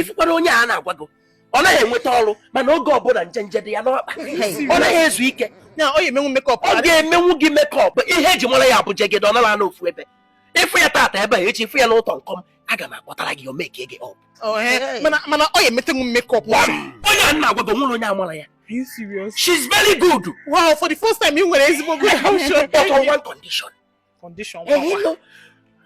ịfụkwara onye a na-agwa gị ọ naghị enweta ọrụ mana oge ọbụla njenje dị ya n'ọkpa ọ naghị ezu ike ọ ga-emenwu gị makeup ihe eji mara ya bụ jegede ọ nara anọ ofu ebe ịfụ ya tata ebe a echi ịfụ ya n'ụtọ nkọm aga m akpọtara gị o make gị up mana ọ ya emetenwu makeup onye a na-agwa gị nwere onye amara ya Are you serious? She's very good. Wow, for the first time, you were able to But on one condition. condition kwa.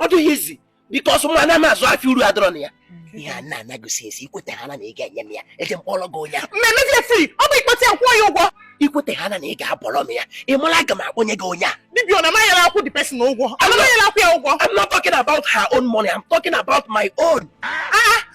Ọ dịghị easy because mụ anaghị azụ afịa uru adọrọ na ya. Ihe a na-enegotiate ikweta ha na ị ga-enye m ya eje m kpọọrọ gị onye. Mmemme dị free, ọ bụ ịkpọta ya kwụọ ya ụgwọ. Ikweta ha na ị ga-abọrọ m ya, ị mara aga m akpọnye gị onye a. Dibia ọ na-amaghị ya akwụ the person ụgwọ. Ọ na-amaghị ya akwụ ya ụgwọ. I'm not talking about her own money, I'm talking about my own. Ah!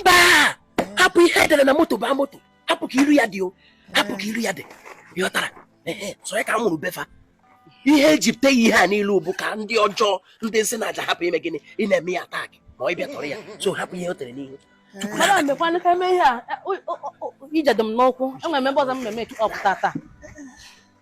mba hapụ ihe edere na moto baa moto hapụ ka iru ya dị o hapụ ka iru ya dị ịghọtara so ya ka m mụrụ befa ihe eji pụta ya ihe a niile bụ ka ndị ọjọọ ndị nsi na aja hapụ ime gịnị ị na-eme ya attack ma ọ bụ ịtọrọ ya so hapụ ihe o tere n'ihu madam mekwanụ ka eme ihe a ije dị m n'ụkwụ enwere m ebe ọzọ m na-eme makeup tata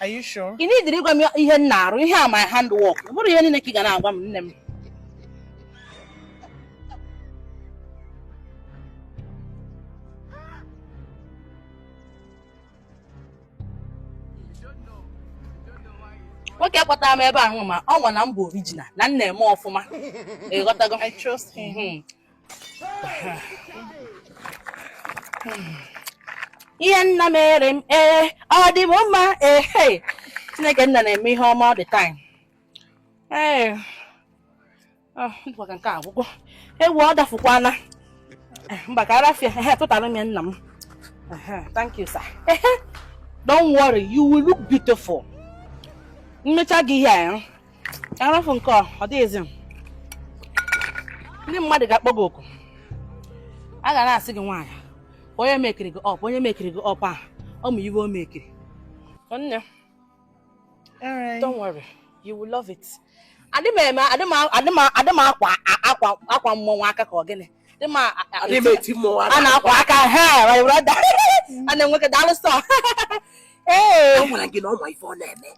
Are you sure? ị needirị ịgwa m ihe m na-arụ ihe a my hand work ọ bụrọ ihe niile ka ị ga na-agwa m nne m nwoke kpọtara m ebe ahụ ma ọ nwa na m bụ original na m na-eme ọfụma ịghọtago I trust him. Mhm. ihe nna mere m ee ọ dị m mma ee hey. chineke nna na-eme ihe ọma all the time ee ah, ndụkwa ka nke a agwụgwọ ewu ọ dafukwana Eh, mba ka arafia ehe tụtara m ya nna m Ehe, thank you sir ehe don't worry you will look beautiful m mecha gị ihe a eh, aza phone call ọ dịghị easy ndị mmadụ ga-akpọ gị oku a ga na-asị gị nwaanyị onye mekiri gị up onye mekiri gị up a ọ ma iwe o mekiri nne don't worry you will love it adị m eme adị m akwa akwa akwa mmọnwụ aka ka ọ gịnị dị m a na-akwa aka ha my brother a na-enweke daalụ sir ee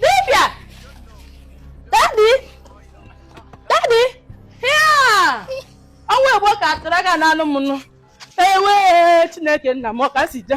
dibịa daddy daddy ya ọnwa egbo ka atụrụ aka n'anụ m nụ ewe chineke nna m ọ ka si je